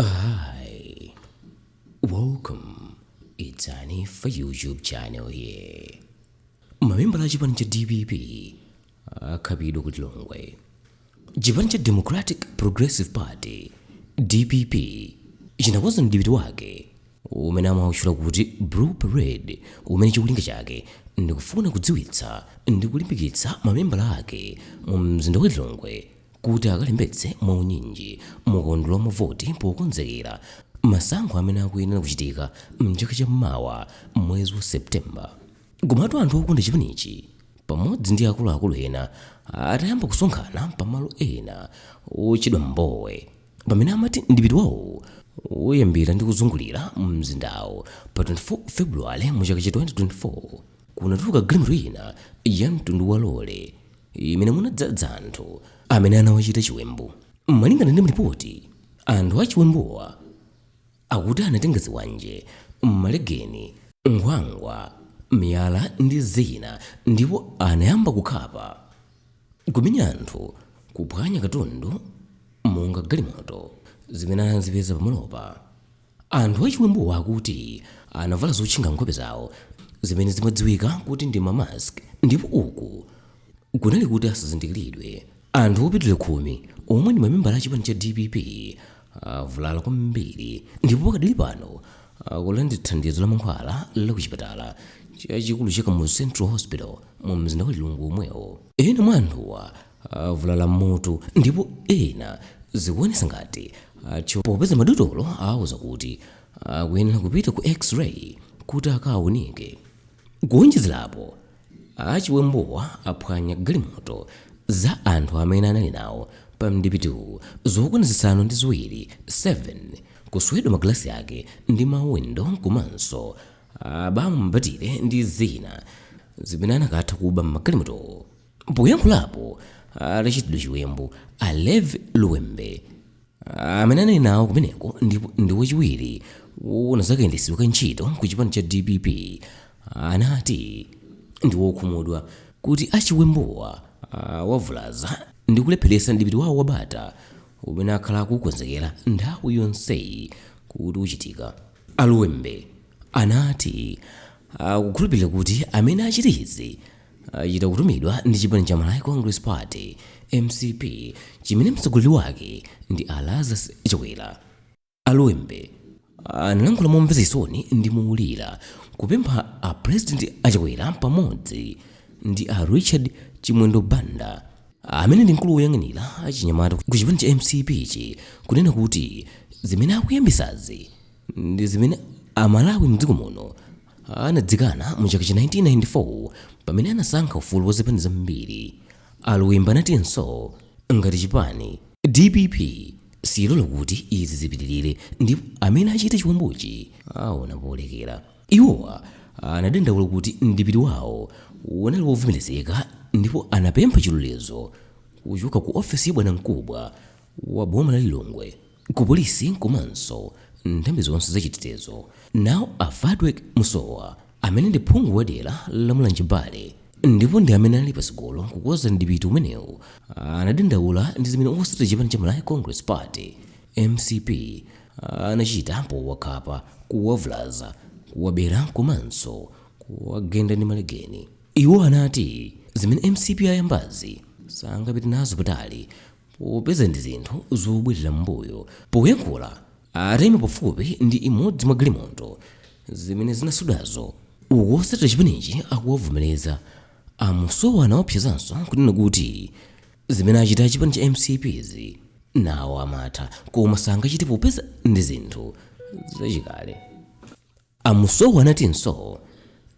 Hi, welcome. It's Annie for YouTube channel here. Mamembala a chipani cha DPP akhapidwa ku Lilongwe. Chipani cha Democratic Progressive Party DPP chinakonza mdipiti wake umene amautchula kuti Blue Parade umene cholinga chake ndikufuna kudziwitsa ndi kulimbikitsa mamembala ake mu mzinda wa Lilongwe kuti akalembetse mwaunyinji mu kaundula wa mavoti pokonzekera masankho amene akuyenera kuchitika m'chaka cha mawa mwezi wa September. Komatu anthu okonda chipanichi pamodzi ndi akuluakulu ena atayamba kusonkhana pamalo ena otchedwa Mbowe pamene amati mdipiti wawo uyambira ndi kuzungulira mzindawo pa 24 February mu chaka cha 2024 kunatulukira galimoto ina ya mtundu wa lole imene munadzadza anthu amene anawachita chiwembu. Malingana ndi malipoti, anthu achiwembuwa akuti anatenga zikwanje, malegeni, nkhwangwa, miyala ndi zina ndipo anayamba kukhapa, kumenya anthu, kuphwanya katundu monga galimoto zimene anazipeza pamalopa. Anthu achiwembuwa akuti anavala zotchinga nkhope zawo zimene zimadziwika kuti ndi ma mask ndipo uku kunali kuti asazindikiridwe. Anthu opitilira khumi omwe ndi mamembala a chipani cha dpp avulala kwambiri ndipo pakadali pano akulandira thandizo la mankhwala la ku chipatala chachikulu cha Kamuzu Central Hospital mu mzinda wa Lilongwe omwewo. Ena mwa anthuwa avulala m'mutu ndipo ena zikuonesa ngati athyoka popeza madotolo awauza kuti akuyenera kupita ku x-ray kuti akaawunike kuonjezerapo achiwembuwa aphwanya galimoto za anthu amene anali nawo pa mdipitiwu zokwana zisanu ndi ziwiri 7 kuswedwa magalasi ake ndi mawindo komanso abamo mabatire ndi zina zimene anakwatha kuba m'magalimotowo Poyankhulapo atachitidwa chiwembu, a Levi Luwembe amene anali nawo kumeneko ndipo ndi wachiwiri woona za kayendetsedwe ka ntchito ku chipani cha dpp anati ndi wokhumudwa kuti achiwembuwa awavulaza ndi kulepheretsa mdipiti wawo wa bata umene akhala akuukonzekera nthawi yonseyi kuti uchitike. A Luwembe anati akukhulupirira kuti amene achite izi achita kutumidwa ndi chipani cha Malawi Congress Party mcp chimene mtsogoleri wake ndi a Lazarus Chakwera. A Luwembe analankhula momvetsa chisoni ndi moulura kupempha a President a Chakwera pamodzi ndi a Richard Chimwendo Banda amene ndi mkulu woyang'anira achinyamata ku chipani cha mcp chi kunena kuti zimene akuyambisazi ndi zimene amalawi mdziko muno anazikana mu chaka cha 1994 pamene anasankha ufulu wa zipani zambiri a Luwembe anatinso ngati chipani dpp siilola kuti izi zipitirire ndipo amene achita chiwembuchi aona polekera iwowa anadandaula kuti mdipiti wawo unali wovomerezeka ndipo anapempha chilolezo kuchoka ku ofesi ya bwanamkubwa wa boma la Lilongwe ku polisi komanso nthambi zonse za chitetezo. Nawo a Victor Musowa amene ndi phungu wa dera la Mulanje Bale ndipo ndi amene ali patsogolo kukonza mdipiti umenewu anadandaula ndi zimene otsatira chipani cha Malawi Congress Party, mcp, anachita powakhapa, kuwavulaza, kuwabera komanso kuwagenda ndi malegeni. Iwo anati zimene mcp ayambazi sangapite nazo patali Popeza ndi zinthu zobwerera m'mbuyo poyankhula, ataima pafupi ndi imodzi mwa galimoto zimene zinaswedwazo. Uku otsatira chipanichi akuwavomereza. A Musowa anaopsezanso kunena kuti zimene achita a chipani cha mcp zi nawo amatha koma sangachite popeza ndi zinthu zachikale. A Musowa anatinso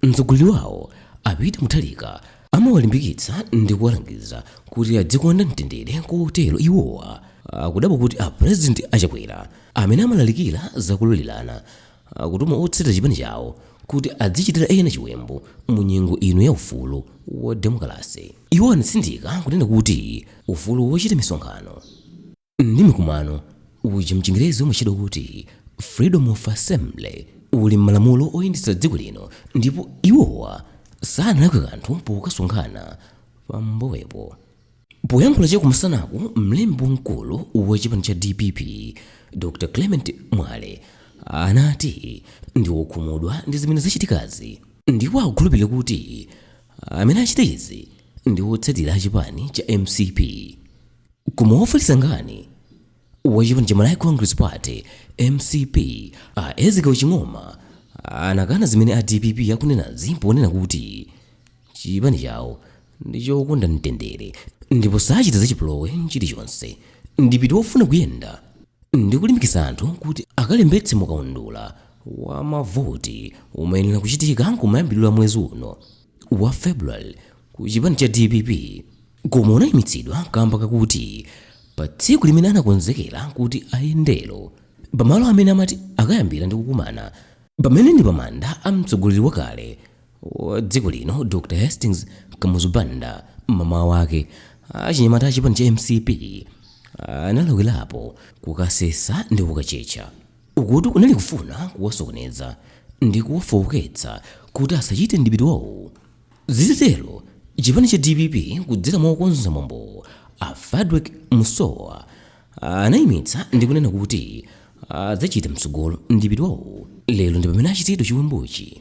mtsogoleri wawo a Peter Mutharika amawalimbikitsa ndi kuwalangiza kuti adzikonda mtendere kotero iwowa akudabwa kuti a President a Chakwera amene amalalikira za kulolerana akutuma otsatira chipani chawo kuti adzichitira ena chiwembu mu nyengo ino ya ufulu wa demokalase. Iwo anatsindika kunena kuti ufulu wochita misonkhano, Ndi mikumano uja mchingerezi umatchedwa kuti Freedom of Assembly uli mmalamulo oyendetsa dziko lino ndipo iwowa sanalakwe kanthu pokasonkhana pa Mbowepo. Poyankhula cha kumasanaku mlembi wamkulu wa chipani cha dpp Dr Clement Mwale anati ndi okhumudwa ndi zimene zachitikazi ndipo akukhulupirira kuti amene achita izi ndi otsatira a chipani cha mcp. koma wofalitsa nkhani wa chipani cha malawi congress party mcp a ezekiel ching'oma anakana zimene a dpp akunenazi ponena kuti chipani chawo ndi chokonda mtendere ndipo sachita zachipolowe chilichonse mdipiti wofuna kuyenda ndi kulimbikitsa anthu kuti akalembetse mukaundula wa mavoti umayenera kuchitika kumayambiriro a mwezi uno wa February ku chipani cha dpp koma unayimitsidwa kamba kakuti pa tsiku limene anakonzekera kuti ayendere pamalo amene amati akayambira ndi kukumana pamene ndi pamanda a mtsogoleri wakale wa dziko lino dr hastings kamuzu banda mamawa wake achinyamata a chipani cha mcp analawirirapo kukasesa ndi kukatchetcha Ukutu kunali kufuna kuwasokoneza ndi kuwafooketsa kuti asachite mdipiti wawowo. Zitatero, chipani cha dpp kudzera mwa okonza mwambowo a Fadweck Musowa anaimitsa ndi kunena kuti adzachita mtsogolo mdipiti wawowo. Lero ndi pamene achitidwa chiwembuchi.